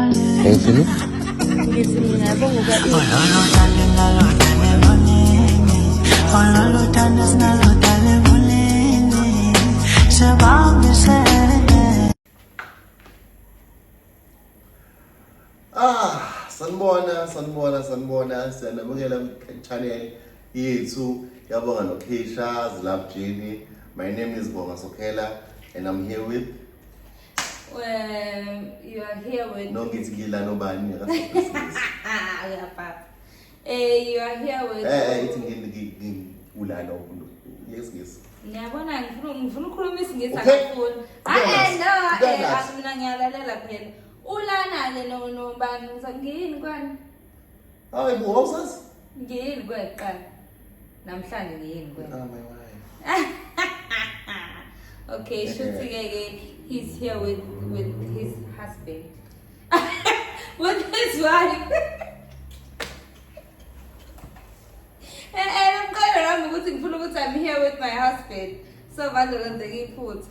Ngisini? Ngisini ngiyabonga ukuba Ah, sanibona, sanibona, sanibona, siyanamukela channel yethu yabonga nokhisha zilabjini my name is bonga sokhela and i'm here with you are here with No ngithi ngila nobani uyapapa. Eh you are here with Eh eh ithi ngili ula lo yes yes. Ngiyabona ngifuna ngifuna ukukhuluma isingisi akafuni. Ah no eh akumina ngiyalalela kuphela. Ulana ke no no bani ngiyini kwani? Hayi bo awusazi? Ngiyini kweqala. Namhlanje ngiyini kwe. Ah my wife. okay, shuthi ke ke he's here with with his husband. with his wife. Eh eh, I'm going around ukuthi ngifuna ukuthi I'm here with my husband. So bandolo ngiphutha.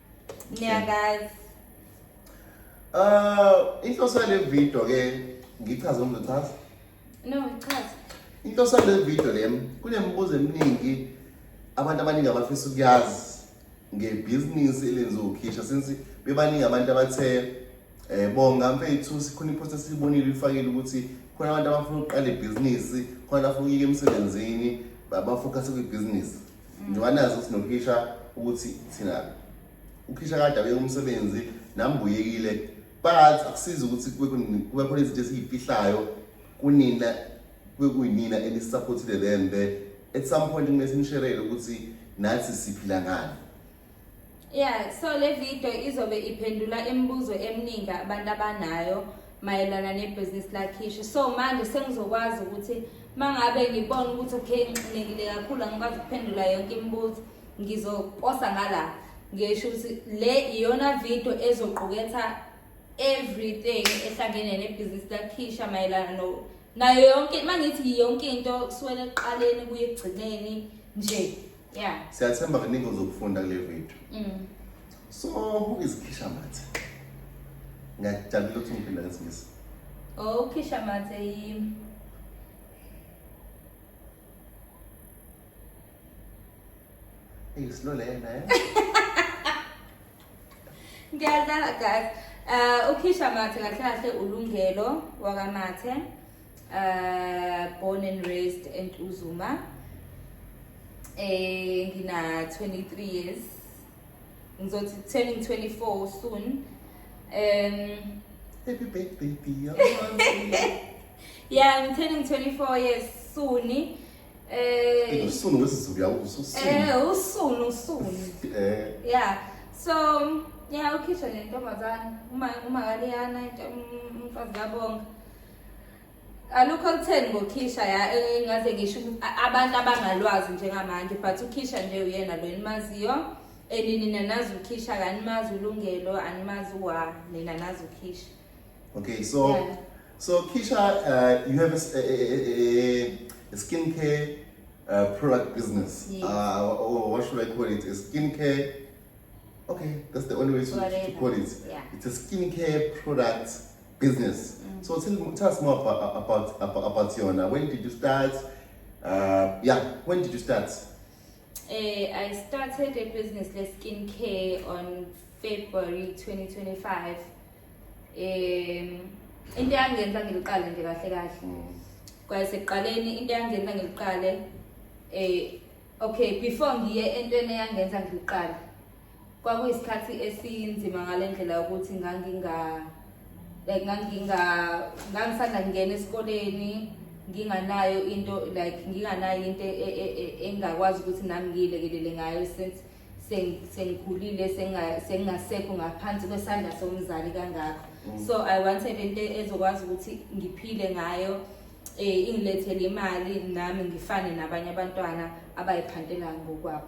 Niyakazi. Uh, inhloso yale video ke ngichaze umzochaza. No, ngichaze. Inhloso yale video lem kunemibuzo eminingi abantu abaningi abafisa ukuyazi ngebhizinisi elenziwa ukhisha since bebaningi abantu abathe eh bonga mfethu sikhona ipost esibonile ifakile ukuthi khona abantu abafuna ukuqala ibhizinisi khona afuna ukuyeka emsebenzini bafocus kwibhizinisi njengoba nazi ukuthi nokhisha ukuthi thina ukhisha kade abeke umsebenzi nami buyekile but akusizi ukuthi kube khona izinto esiyifihlayo kunina kube kuyinina enisupportile le mbe at some point kumele sinisherele ukuthi nathi siphila ngani Yeah, so le video izobe iphendula imibuzo eminingi abantu abanayo mayelana nebhizinisi lakhishi. So manje sengizokwazi ukuthi mangabe ngibona ukuthi okay nginxinekile kakhulu angikwazi ukuphendula yonke imibuzo ngizoposa ngala ngisho ukuthi le iyona video ezoquketha everything ehlangene nebhizinisi lakhisha mayelana no nayo yonke mangithi yonke into kusuwela ekuqaleni kuye ekugcineni nje yeah siyathemba kuningi uzokufunda kule video mm. so ukizikhisha mathe ngiyajabula ukuthi ngiphinda ngesingisi oh ukhisha mathe yimi Islo le na. Ngiyazala guys. Uh, ukhisha mathe kahle kahle ulungelo wakamathe Uh, born and raised in Uzuma. Eh ngina 23 years. Ngizothi turning 24 soon. Um happy birthday dear. yeah, I'm turning 24 years soon. Eh uh, soon wesizulu yawuso soon. Eh usunu soon. Eh. Yeah. So yeah, ukhishwa nentombazana uma uma kaliyana umfazi kabonga. alukho olutheni ngokhisha ya engaze eh, ngisho abantu abangalwazi njengamanje but ukhisha nje uyena lo enimaziyo and nina nazi ukhisha kanimazi ulungelo animazi wa nina nazi ukhisha okay so yeah. so kisha uh, you have a, a, a, a skin care uh, product business yes. uh, or what should i call it a skin care okay that's the only way to, to call it yeah. it's a skin care product business mm. so tell, tell us more about, about, about, about yona when did you start uh, yeah when did you start uh, i started a business le skin care on february 2025 um into yangenza ngiliqale nje kahle kahle mm. kwaye sekuqaleni into yangenza ngiliqale um okay before ngiye entweni eyangenza ngiliqale kwakuyisikhathi esinzima ngale ndlela yokuthi nganginga like nganginga ngangisanda ngingena esikoleni nginganayo into like nginganayo into e, e, e, engakwazi ukuthi nami ngiyilekelele ngayo since sengikhulile sengingasekho ngaphansi kwesandla somzali kangakho mm. so i wanted into ezokwazi ukuthi ngiphile ngayo um ingilethele imali nami ngifane nabanye abantwana abayiphantela ngokwabo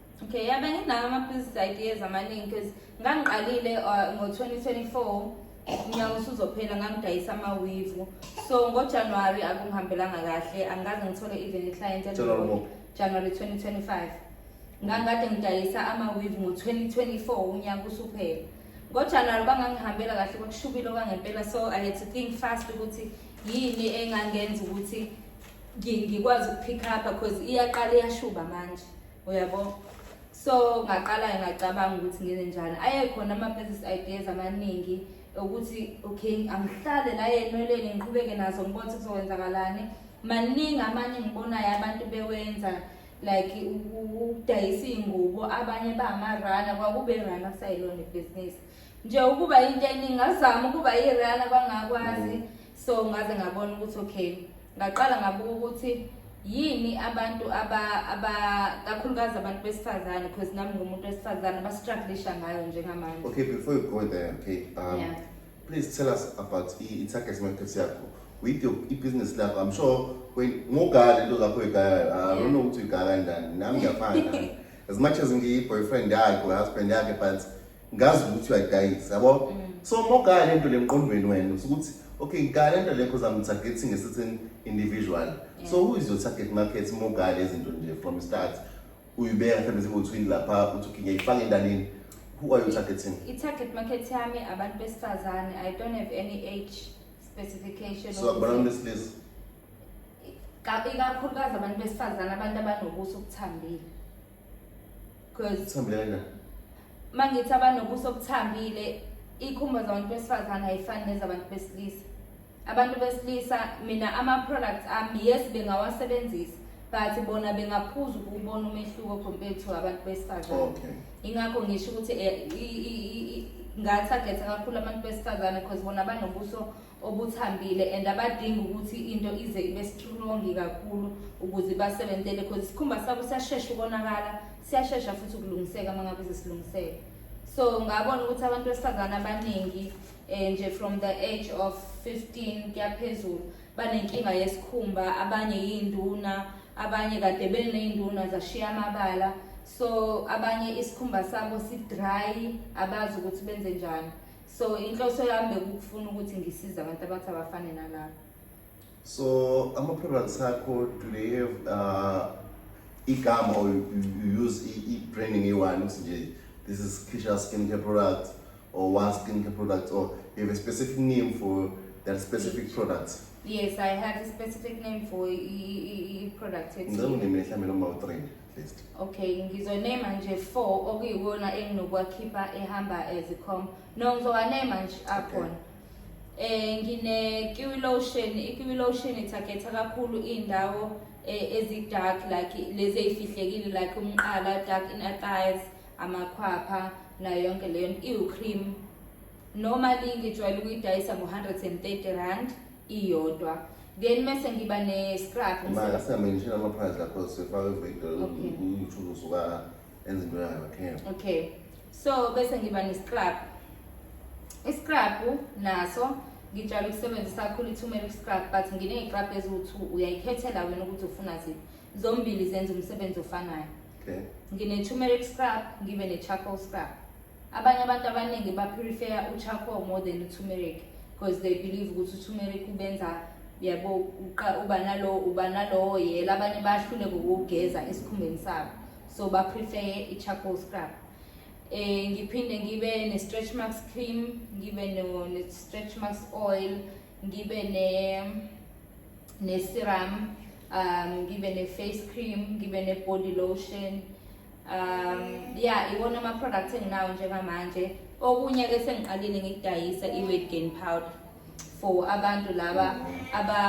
Okay, yabe nginawo ama-business ideas amaningi because ngangiqalile uh, ngo-2024 unyaka usuzophela ngangidayisa amawivu so ngojanuwari akungihambelanga kahle angikaze ngithole even i-client January ngaphi? januwari 2025 ngangikade ngidayisa amawivu ngo-2024 unyaka usuphela ngojanuwari bangangihambela kahle kwakushubile okwangempela so i had to think fast ukuthi yini engangenza ukuthi ngikwazi ukupick up because iyaqala iyashuba manje uyabo so ngaqala ngacabanga ukuthi ngene njani ayekhona ama-business ideas amaningi ukuthi okay angihlale la yenweleni ngiqhubeke nazo ngibona ukuthi kuzokwenzakalani maningi amanye ngibonayo abantu bewenza like ukudayisa iy'ngubo abanye bangamarana kwakube rana kusayilona ibhizinisi nje ukuba into eningi ngazama ukuba irana kwangakwazi mm. so ngaze ngabona ukuthi okay ngaqala ngabuka ukuthi yini abantu aba aba kakhulukazi abantu besifazane because nami ngumuntu wesifazane bastruglisha ngayo njengamanje okay before you go there okay um yeah. please tell us about i-target market yakho with your i-business lakho i'm sure ngogala into zakho igaya ah, i don't know ukuthi igaya kanjani nami ngiyafana as much as ngiyi-boyfriend yakhe or husband yakhe but ngazi ukuthi uyadayisa yabo mm. so uma ugaya lento le mqondweni wena ukuthi okay ngigaya lento le because i'm targeting a certain individual yeah. so who is your target market uma ugaya lezi zinto nje from start uyibeka mhlawumbe zingotwini lapha uthi okay ngiyayifaka endanini who are you targeting i-target market yami abantu besifazane i don't have any age specification so abantu besilisa ikakhulukazi abantu besifazane abantu abanobuso obuthambile cause Thambile kanjani? mangithi abanobuso obuthambile ikhumba zabantu besifazane ayifani nezabantu besilisa abantu besilisa mina ama-products ami yes bengawasebenzisa but bona bengaphuza ukuwubona umehluko compared to abantu besifazane Okay. ingakho ngisho ukuthi eh, i- i- i- i- ngatargetha kakhulu abantu besifazane because bona banobuso obuthambile and abadingi ukuthi into ize ibe strong kakhulu ukuze basebenzele because isikhumba sabo siyashesha ukonakala siyashesha futhi ukulungiseka uma ngabe sesilungiseka so ngabona ukuthi abantu besifazane abaningi um nje from the age of 15 kuyaphezulu banenkinga yesikhumba abanye yiy'nduna abanye kade beney'nduna zashiya amabala so abanye isikhumba sabo si-dry abazi ukuthi benze njani so inhloso yami bekukufuna ukuthi ngisize abantu abathi abafane nalaba so ama-products akho do they have uh, igama or you, you use i-branding eyi-one ukuthi nje this is kisha skincare product or one skincare product or you have a specific name for that specific product yes i have a specific name for i-product ngicela unime mhlawumbe noma u-three Best. Okay, ngizonema nje 4 okuyiwona enginokwakhipha ehamba as a com. No, ngizowanema nje akhona. Eh ngine kiwi lotion, ikiwi lotion ithagetha kakhulu indawo eh, ezi dark like lezi ezifihlekile like umqala, dark inner thighs, amakhwapha na yonke leyo iwu cream. Normally ngijwayele ukuyidayisa ngo 130 rand. iyodwa then mese ngiba ne-scrub imali asingamendishela ama-price lakho sifake ivideo Okay. uyoutube usuka enza into yayo okay okay so bese ngiba ne-scrub i-scrub naso ngijala ukusebenzisa kakhulu i-turmeric scrub but nginey'crub eziwu-two uyayikhethela wena ukuthi ufuna ziphi zombili zenza umsebenzi ofanayo okay ngine-turmeric scrub ngibe ne-charcoal scrub Abanye abantu abaningi bapurifeya u-charcoal more than u-turmeric because they believe ukuthi u-turmeric ubenza yabo uba nalowo uba nalowo yela abanye bayahlule ngokugeza esikhumbeni sabo so baprefeye i-charcoal scrub eh ngiphinde ngibe ne-stretch marks cream ngibe ne-stretch marks oil ngibe ne ne-serum um ngibe ne-face cream ngibe ne-body lotion um ya iwona ama-product enginawo njengamanje okunye-ke sengiqalile ngikudayisa i-weight gain powder for abantu laba aba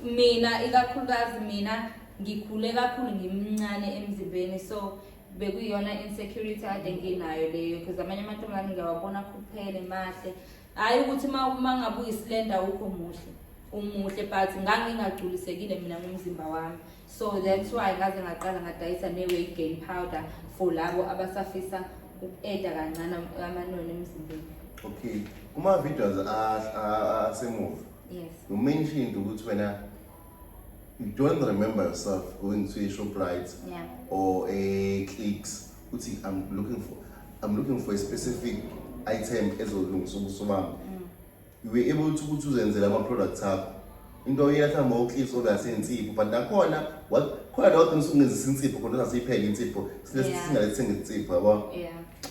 mina ikakhulukazi mina ngikhule kakhulu ngimncane emzimbeni so bekuyiyona insecurity ade nginayo leyo because amanye amantombazane ngiyawabona akhuphele mahle hhayi ukuthi uma uma ngabe uyisilenda wukho muhle umuhle but ngangingagculisekile mina ngomzimba wami so that's why ngaze ngaqala ngadayisa ne-weight gain powder for labo abasafisa uku-eda kancane amanoni emzimbeni okay kuma-videos asemuva yes you mentioned ukuthi wena you don't remember yourself going to a shoprite yeah. or a clicks ukuthi i'm looking for i'm looking for a specific item ezolungisa ubuso bami mm. you were able to ukuthi uzenzele ama-products akho into oyetha ngoklipse ongase insipho but nakhona khona la wadinisa ukungenzisa insipho khona sasiyiphele insipho singalethenga insipho yabo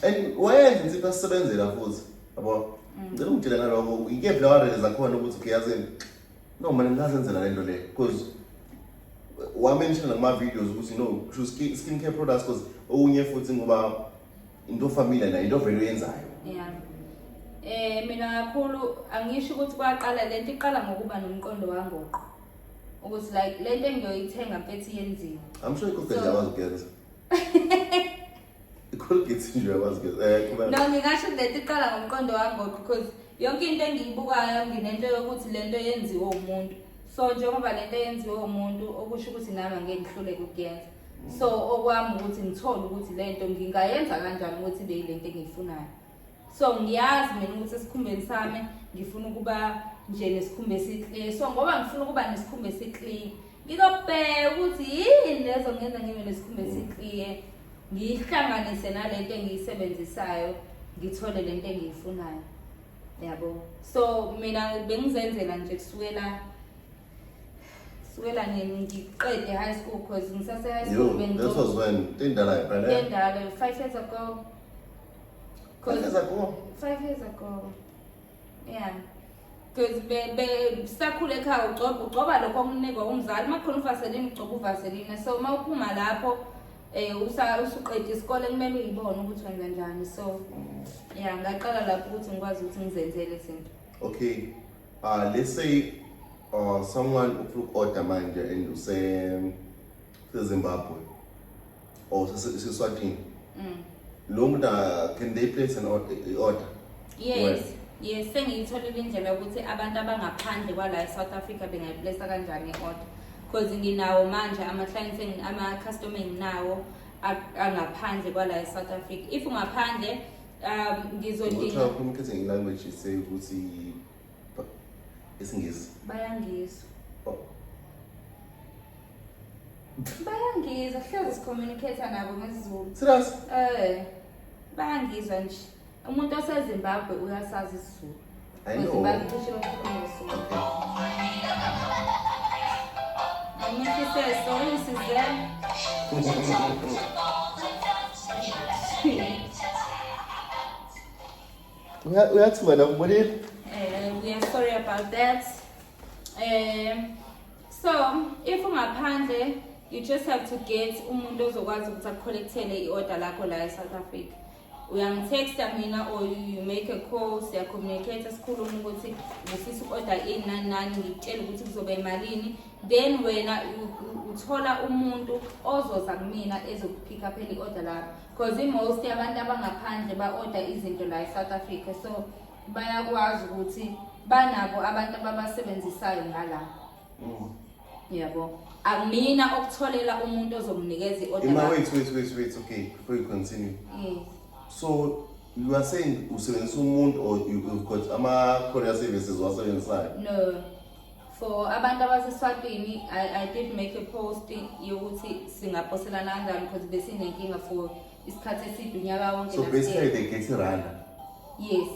and wayenza insipho asisebenzela futhi yabo mm. ngicela ungitshele ngaloko ikephi la warele zakhona ukuthi ukuyazini no mane ngingazenzela le nto le because wamenshina nakuma-videos ukuthi no skin care products because okunye futhi ngoba into famile nayo into vele uyenzayo yeah eh mina kakhulu angisho ukuthi kwaqala lento iqala ngokuba nomqondo wangoqo ukuthi like lento engiyoyithenga mfethu yenziwe i'm sure ikho phela yakwazi ukuyenza icolgate nje yakwazi ukuyenza eh kuba no ngingasho ukuthi lento iqala ngomqondo wangoqo because yonke into engiyibukayo nginento yokuthi lento yenziwe umuntu so njengoba lento yenziwe umuntu okusho ukuthi nami angeke ngihluleke ukuyenza so okwami ukuthi ngithole ukuthi lento ngingayenza kanjani ukuthi be lento engiyifunayo so ngiyazi mina ukuthi esikhumbeni sami ngifuna ukuba nje nesikhumba esiklini so ngoba ngifuna ukuba nesikhumba esiklini ngizobheka ukuthi yini lezo ngenza ngibe nesikhumba esikliye ngiyihlanganise nalento engiyisebenzisayo ngithole lento engiyifunayo yabo so mina bengizenzela nje kusukela sukela nini ngiqede high school cause ngisase high school You, bengizo- this was when tindala ngempela. Endala, five years ago Five years ago. five years ago yeah because sakhula ekhaya ugcoba ugcoba lokho okunikwa umzali uma kukhona uvaselini ugcoba uvaselini so uma uphuma lapho um usuqeda isikole kumele uyibone ukuthi wenza njani so ya ngaqala lapho ukuthi ngikwazi ukuthi ngizenzele izinto Okay. Uh, let's say uh, someone ufuna uku-order manje and usezimbabwe or seswatini mm. lo muntu uh, can they place an order, order? yes Where? yes sengiyitholile indlela yokuthi abantu abangaphandle kwala e-south africa bengayiplesa kanjani i-order because nginawo manje ama-clients ama-customer enginawo angaphandle kwala e-south africa if ungaphandle um ngizodinga Ngokuthi communicating in language is say ukuthi ba- isingisi. bayangizwa Oh. bayangizwa hlezi sicommunicate nabo ngesizulu Serious? eh bayangizwa nje umuntu osezimbabwe uyasazi isizulu I know. Uya- uyathi wena ubonile Eh, we are sorry about that. Eh, so if ungaphandle you just have to get umuntu ozokwazi ukuthi akucollectele i-order lakho la e-South Africa. uyangitexta mina or you make a call siyacommunicate sikhuluma ukuthi ngifisa uku-order ini nani nani ngikutshela ukuthi kuzoba imalini then wena uthola umuntu ozoza kumina ezokuphika phela i-order lapho because i-most yabantu abangaphandle ba-order izinto la e-south africa so bayakwazi ukuthi banabo abantu ababasebenzisayo ngalapho Mm. Yebo. Amina ah, okutholela umuntu ozomnikeza i-order. Ima wait wait wait wait okay before you continue. Yes. So you are saying usebenzisa umuntu or you, you've got ama courier services wasebenzisayo? No. For abantu abaseSwatini I, I did make a post yokuthi singaposelana kanjani because besinenkinga for isikhathi eside unyaka wonke. So basically they get iranda. Yes.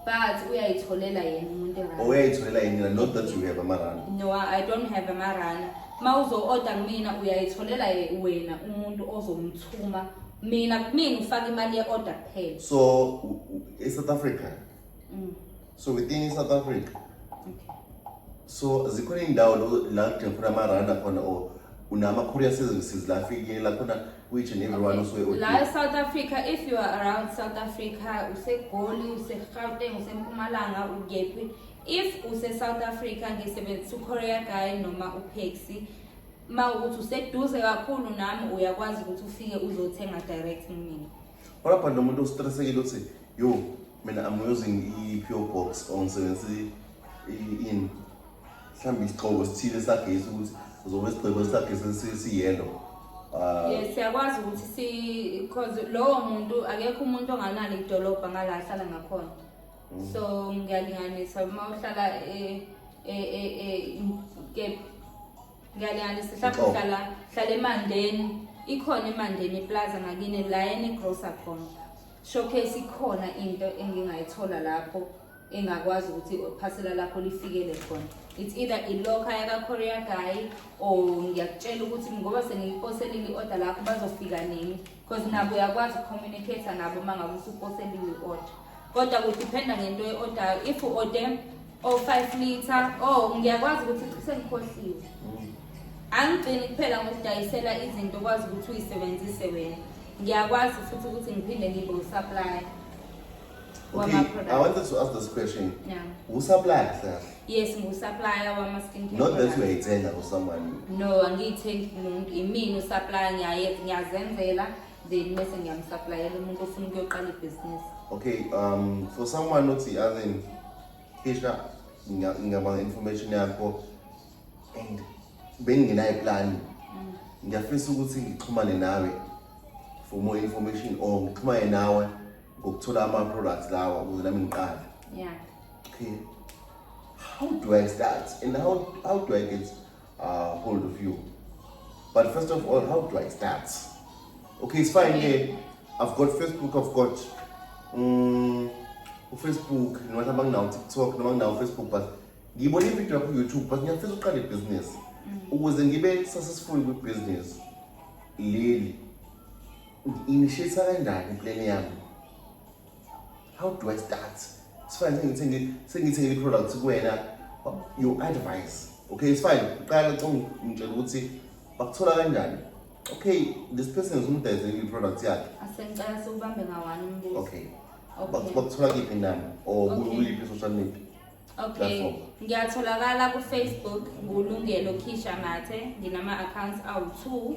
But uyayitholela yena umuntu erana. Uyayitholela yena not that you have amarana. No, I don't have amarana. Uma uzo-order kumina uyayitholela wena umuntu ozomthuma. Mina kumina ufaka imali ye-order kuphela. So e-South Africa. Mm. So within South Africa. Okay. So zikhona indawo la kudinga khona amarana khona or unama courier services la afikela khona which in everyone okay. usuke la eSouth Africa if you are around South Africa usegoli useGauteng usempumalanga ukephi if use South Africa ngisebenzisa uCourier guy noma uPaxi ma ukuthi useduze kakhulu nami uyakwazi ukuthi ufike uzothenga direct kumina What about lo muntu ostressekile uthi yo mina I'm using i-PO box or ngisebenzisa i-in mhlawumbe isigxobo sithile sagesi ukuthi uzobe isigxobo sagesi siyelo ah. yes siyakwazi ukuthi si because lowo muntu akekho umuntu onganalo idolobha ngala ahlala ngakhona mm. so ngiyalinganisa uma uhlala e, e, e, kephi ngiyalinganisa mhlawumbe uhlala hlala emandeni ikhona emandeni iplaza ngakini la enegrosa khona showcase ikhona into engingayithola lapho engakwazi ukuthi phasela lakho lifikele khona it's either iloka yakakorea guy or ngiyakutshela ukuthi ngoba sengiyiposelile i-order lakho bazofika nini because nabo uyakwazi ukucommunicate nabo uma ngabe usuposelile i-order kodwa kudiphenda ngento ye-ordayo if u-ode o-five oh, litre o oh, ngiyakwazi ukuthi sengikhohliwe mm. angigcini kuphela ngokudayisela izinto okwazi ukuthi uyisebenzise wena ngiyakwazi futhi ukuthi ngiphinde ngibe usupply Okay, I wanted to ask this question. Yeah. Usupplier kahle kahle. Yes, ngiwusupplier wama skin care. Not that uyayithenga for someone. No, angiyithengi kumuntu. Imina usupplier ngiyaye ngiyazenzela then bese ngiyamsupplyela umuntu ofuna ukuyoqala ibhizinisi. Okay, um for someone othi as in Kisha ngiyabanga information yakho and bengingenayo plan. Mm. Ngiyafisa ukuthi ngixhumane nawe for more information or ngixhumane nawe. ukuthola ama-products lawa ukuze nami ngiqale yeah. okay. how do i start and how, how do i get uh, hold of you but first of all how do i start okay it's fine yeah. i've got facebook i've got um, ufacebook noma mhlawumbe anginawo utiktok noma anginawo ufacebook but ngiyibona ividiyo yakho kuyoutube but ngiyafisa uqala ibhizinisi mm. ukuze ngibe successful kwibhizinisi leli Initiate kanjani iplan yami? How do I start? It's fine sengithi sengithi ngeli product kuwena your advice. Okay, it's fine. Uqala ucinga ngitshela ukuthi bakuthola kanjani? Okay, this person is umdayise ngeli product yakhe. Asengicela siwubambe ngawani umbuzo. Okay. Okay. Bakuthola kiphi nami or kuliphi social media? Okay. Ngiyatholakala ku-Facebook ngulungelo Khisha Mathe, nginama-accounts awu-2.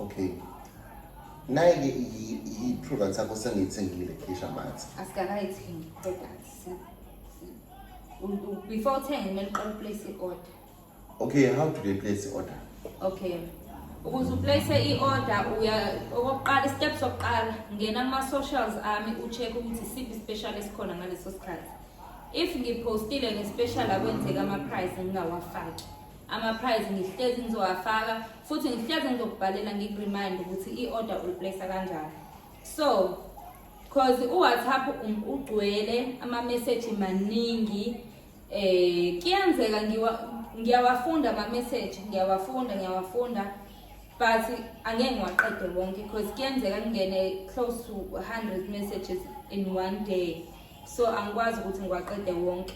Okay. Naye-ke i-product yakho sengiyithengile Keisha Mathi. Asikakayithengi i-product. Before uthenge kumele uqale uplace i-order. Okay, how do they place i-order? Okay. ukuze uplace i-order uya okokuqala istep sokuqala ngena kuma-socials ami u-check ukuthi siphi ispecial esikhona ngaleso sikhathi if ngiphostile ngespecial akwenzeka ama-price ngingawafaki ama-prize ngihlezi ngizowafaka futhi ngihlezi ngizokubhalela ngikuremind ukuthi i-order uliplace kanjani so cause uwhatsapp um, ugcwele amameseji maningi eh kuyenzeka ngiyawafunda amameseji ngiyawafunda ngiyawafunda but angeke ngiwaqede wonke because kuyenzeka ngingene close to 100 messages in one day so angikwazi ukuthi ngiwaqede wonke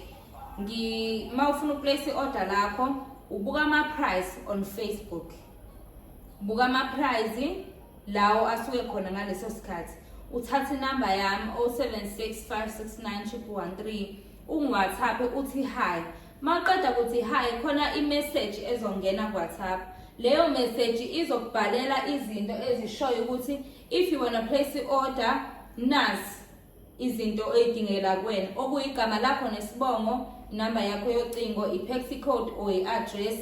ngi uma ufuna ukuplace i-order lakho ubuka ama-price on facebook buka ama-price lawo asuke khona ngaleso sikhathi uthathe inamba yami 07656913 ungiwhatsapp uthi hi maqeda ukuthi hi khona imeseji ezongena kuwhatsapp leyo meseji izokubhalela izinto ezishoyo ukuthi if you wanna place i-order nasi izinto oyidingela kuwena okuyigama lakho nesibongo inamba yakho yocingo i-paxi code or i-address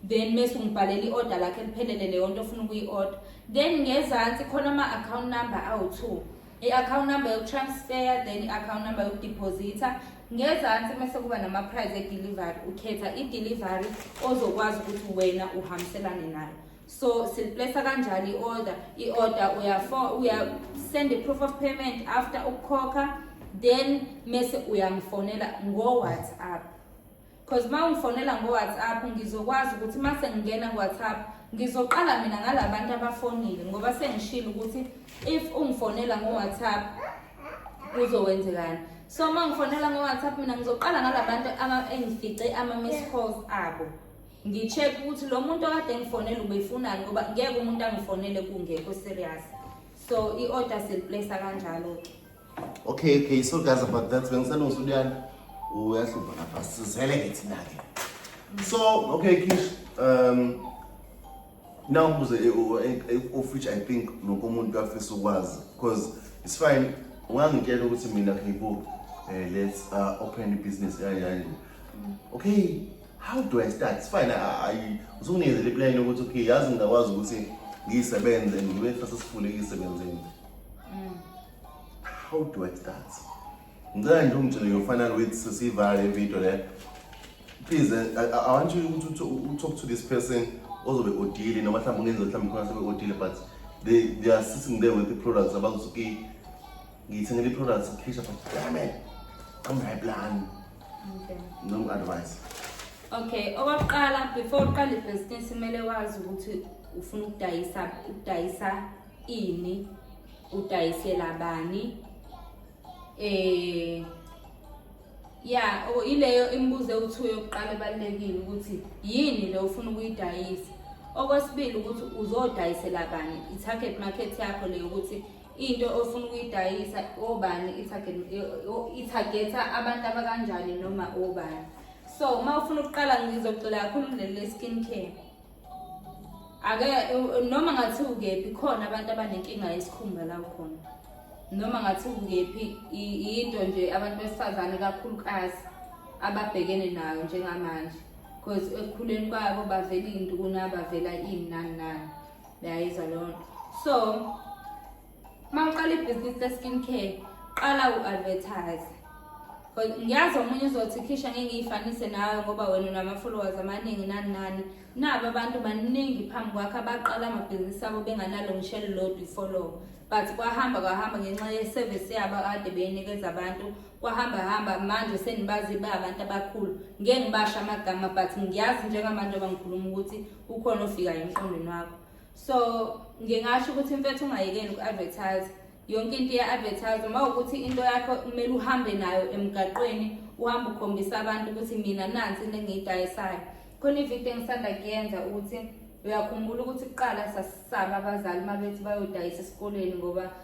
then mese ungibhalela i-order lakho eliphelele leyo nto ofuna ukuyi-order then ngezansi khona ama-account number awu-two i-account number yokutransfer then i-account number yokudiphozitha ngezansi mese kuba nama-prize edelivery ukhetha idelivery ozokwazi ukuthi wena uhambiselane nayo so siliplesa kanjani i-order i-order uyafo uya send i-proof of payment after ukukhokha then mese uyangifonela ngo-whatsapp because uma ungifonela ngo-whatsapp ngizokwazi ukuthi uma sengingena ku-whatsapp ngizoqala mina ngala bantu abafonile ngoba sengishile ukuthi if ungifonela ngo-whatsapp kuzokwenzekani so uma ngifonela ngo-whatsapp mina ngizoqala ngala bantu engifice ama-miss calls abo ngi-check ukuthi lo muntu okade engifonele ubefunani ngoba ngeke umuntu angifonele kungekho serious so i-order seliplesa kanjalo-ke okay okay so guys about that bengisalungisa uluyani uyahlupha lapha sizele-ke thina-ke so okay kish um now kuze of which i think nokomuntu afisa ukwazi because it's fine ungangitshela ukuthi mina khibo um eh, let's uh, open i-business yayo yayo okay how do i start fine usukunikeze le plan yokuthi okay yazi ngingakwazi ukuthi ngiyisebenze and ngibe fase sifule eyisebenzeni mm. how do i start ngicela nje ungitshele yofanana with sesiyivale ividiyo le please eh, I, i want you to, to, to talk to this person ozobe odile noma mhlawumbe ungenza mhlawumbe khona sebe odile but they, they are sitting there with the products abazothi okay ngiyithengele i-products ukhisha but damn it i'm my plan Okay. Noma advice. Okay, okokuqala before uqale ibhizinisi kumele wazi ukuthi ufuna ukudayisa ukudayisa ini, udayisela bani. Eh Yeah, oh, ileyo imibuzo ewuthiwe yokuqala ebalulekile ukuthi yini le ufuna ukuyidayisa. Okwesibili ukuthi uzodayisela bani i-target market yakho leyo ukuthi into ofuna ukuyidayisa obani ithagetha abantu abakanjani noma obani so uma ufuna ukuqala ngizogxila kakhulu kuleli le-skin care ake noma ngathi ukephi khona abantu abanenkinga yesikhumba la khona noma ngathi ukephi yinto nje abantu besifazane kakhulukazi ababhekene nayo njengamanje because ekukhuleni kwabo bavela iy'ntukuna bavela ini nani nani yayizwa leyo nto so uma uqala ibhizinisi le-skin care qala u-advertise because ngiyazi omunye uzothi khisha ngeke ngiyifanise nawe ngoba wena unama-followers amaningi nani nani nabo abantu baningi phambi kwakho abaqala amabhizinisi abo benganalo ngishelo lodwa ifollow but kwahamba kwahamba ngenxa ye-service yabo kade beyinikeza abantu kwahamba hamba manje senibazi ba abantu abakhulu ngeke ngibasho amagama but ngiyazi njengamanje abangikhuluma ukuthi kukhona ofikayo emqondweni wakho so ngingasho ukuthi mfethu ungayekeni uku-advertise yonke into iya-advertise uma ukuthi into yakho kumele uhambe nayo emgaqweni uhambe ukhombisa abantu ukuthi mina nansi into engiyidayisayo khona ividiyo engisanda kuyenza ukuthi uyakhumbula ukuthi kuqala sasisaba abazali uma bethi bayodayisa esikoleni ngoba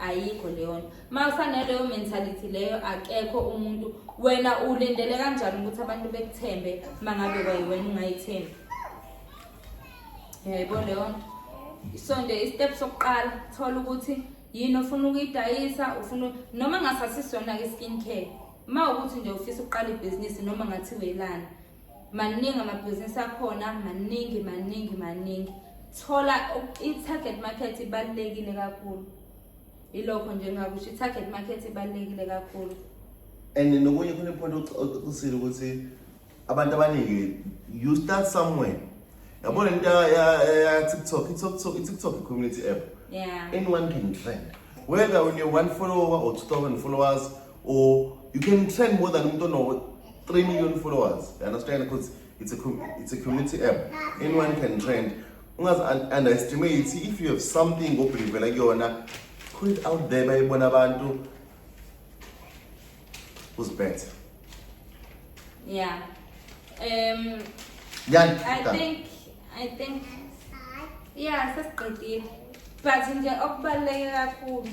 ayikho leyonto uma usanaleyo mentality leyo akekho umuntu wena ulindele kanjani ukuthi abantu bekuthembe uma ngabe kwayiwena ungayithembi yayibona leyo nto so nje istep sokuqala thola ukuthi yini ofuna ukuyidayisa ufuna noma ngasasisona-ke i-skin care uma ukuthi nje ufisa ukuqala ibhizinisi noma ngathi welana maningi amabhizinisi akhona maningi maningi maningi thola i-target market ibalulekile kakhulu ilokho nje ngakusho i-target market ibalulekile kakhulu and nokunye khona iphonto ocisile ukuthi abantu abaningi you start somewhere yabona into ya-tiktok i-tiktok community app yeah. anyone can trend whether une-one follower or 2000 followers or you can trend more than umuntu ono 3 million followers you understand because it's a it's a community app anyone can trend ungazi underestimate if you have something obhilivela kuyona put it out there bayibona abantu who's better yeah um Yan, I think I think yeah sesiqedile but nje okubaluleke kakhulu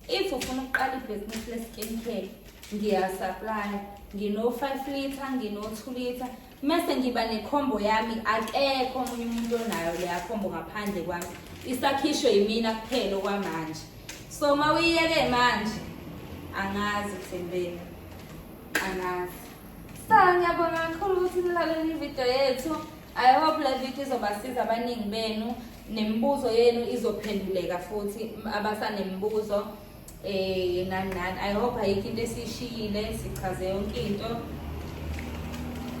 if ufuna ukuqala ibhizinisi le-skin care ngiyasaplaya ngino-five litre ngino-two litre mese ngiba nekhombo yami akekho omunye umuntu onayo leya khombo ngaphandle kwami isakhishwe yimina kuphela okwamanje so uma uyiyeke manje angazi kuthembeni angazi sa ngiyabonga kakhulu ukuthi nilalele ividiyo yethu i hope le vidiyo izobasiza abaningi benu Nemibuzo yenu izophenduleka futhi abasanemibuzo eh nani nani i hope ayikho into esishiyile sichaze yonke into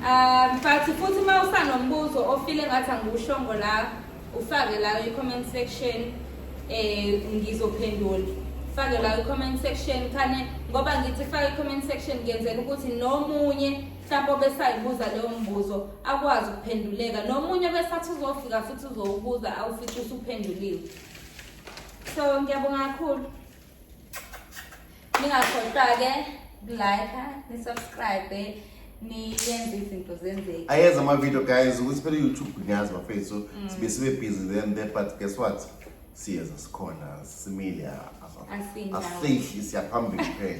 um but futhi uma usanombuzo ofile ngathi angiwushongo la ufake la i-comment section eh ngizophendula fake la i-comment section khane ngoba ngithi fake i-comment section ngenzela ukuthi nomunye mhlawumbe obesayibuza leyo mbuzo akwazi ukuphenduleka nomunye besathi uzofika futhi uzowubuza awufithi usuphenduliwe so ngiyabonga kakhulu ningakhohlwa-ke kulike nisubscribe niyenze izinto zenzeke ayenza ama-video guys ukuthi phela youtube ngiyazi bafethu so mm. sibe sibe busy then there but guess what siyeza sikhona simile asihli siyaphambili phela